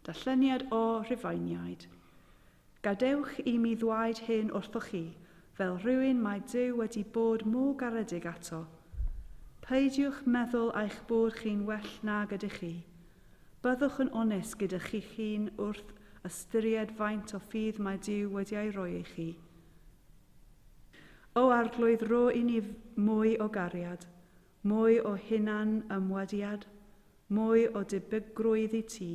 Darlleniad O Rhufeiniaid. Gadewch i mi ddwaed hyn wrthoch chi, fel rhywun mae Duw wedi bod mô garedig ato. Peidiwch meddwl eich bod chi'n well nag ydych chi. Byddwch yn onest gyda chi'ch hun wrth ystyried faint o ffydd mae Duw wedi ei roi i chi. O Arglwydd rho i ni mwy o gariad. Mwy o hunan ymwadiad, mwy o debygrwydd i ti.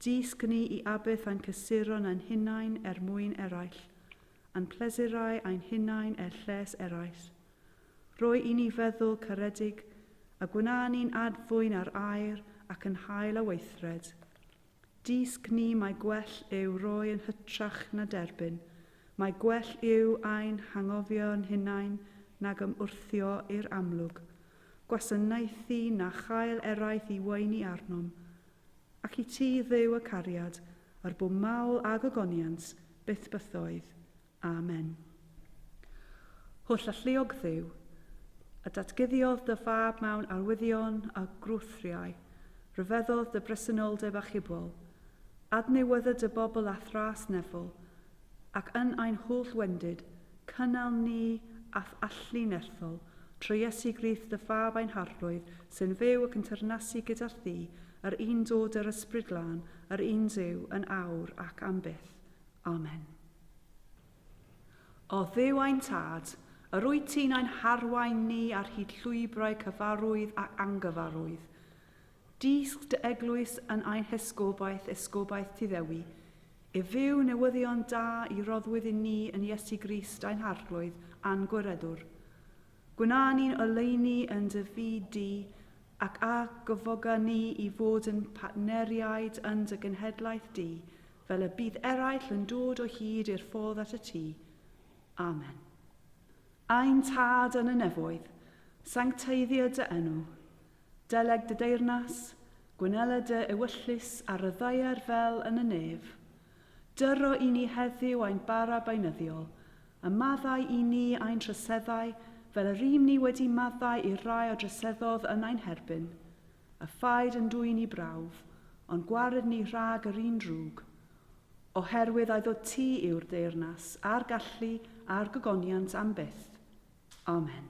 Dysg ni i abyth a'n cysuron a'n hunain er mwyn eraill, a'n plesurau a'n hunain er lles erais. Roi i ni feddwl caredig, a gwna ni'n ad-fwyn ar air ac yn hael a weithred. Dysg ni mai gwell yw roi yn hytrach na derbyn, mai gwell yw ein hanghofio yn hunain nag ymwrthio i'r amlwg, gwasanaethu na chael eraill i weini arnom. Ac i ti, Dduw y cariad, yr bu mawl a gogoniant, byth bythoedd, Amen. Holl alluog Dduw, a datguddiodd dy fab mewn arwyddion a gwrthriau, rhyfeddodd dy bresenoldeb achubol, adnewydda dy bobl a thras nefol, ac yn ein holl wendid, cynnal ni a'th allu nerthol, trwy Iesu Grist dy fab ein Harglwydd, sy'n fyw ac yn teyrnasu gyda thi, yr un dod yr Ysbryd Glân, yr un Duw, yn awr ac am byth. Amen. O Dduw ein Tad, yr wyt ti'n ein harwain ni ar hyd llwybrau cyfarwydd ac angyfarwydd. Dysg dy eglwys yn ein hesgobaeth, esgobaeth ti ddewi, i fyw newyddion da i roddwyd i ni yn Iesu Grist ein Harglwydd a'n Gwiredwr. Gwna ni'n oleuni yn dy fyd di, ac a gyfoga ni i fod yn partneriaid yn dy genhedlaeth di, fel y bydd eraill yn dod o hyd i'r ffordd at y tŷ. Amen. Ein Tad yn y nefoedd, sancteiddio dy enw. Deleg dy deyrnas, gwynela dy ewyllys ar y ddaear fel yn y nef. Dyro i ni heddiw ein bara beunyddiol, a maddau i ni ein troseddau fel yr ym ni wedi maddau i'r rai a droseddodd yn ein herbyn. A phaid yn dwyn i brawf, ond gwared ni rhag yr un drwg, oherwydd a'i ddod ti yw'r deyrnas, a'r gallu, a'r gogoniant am byth. Amen.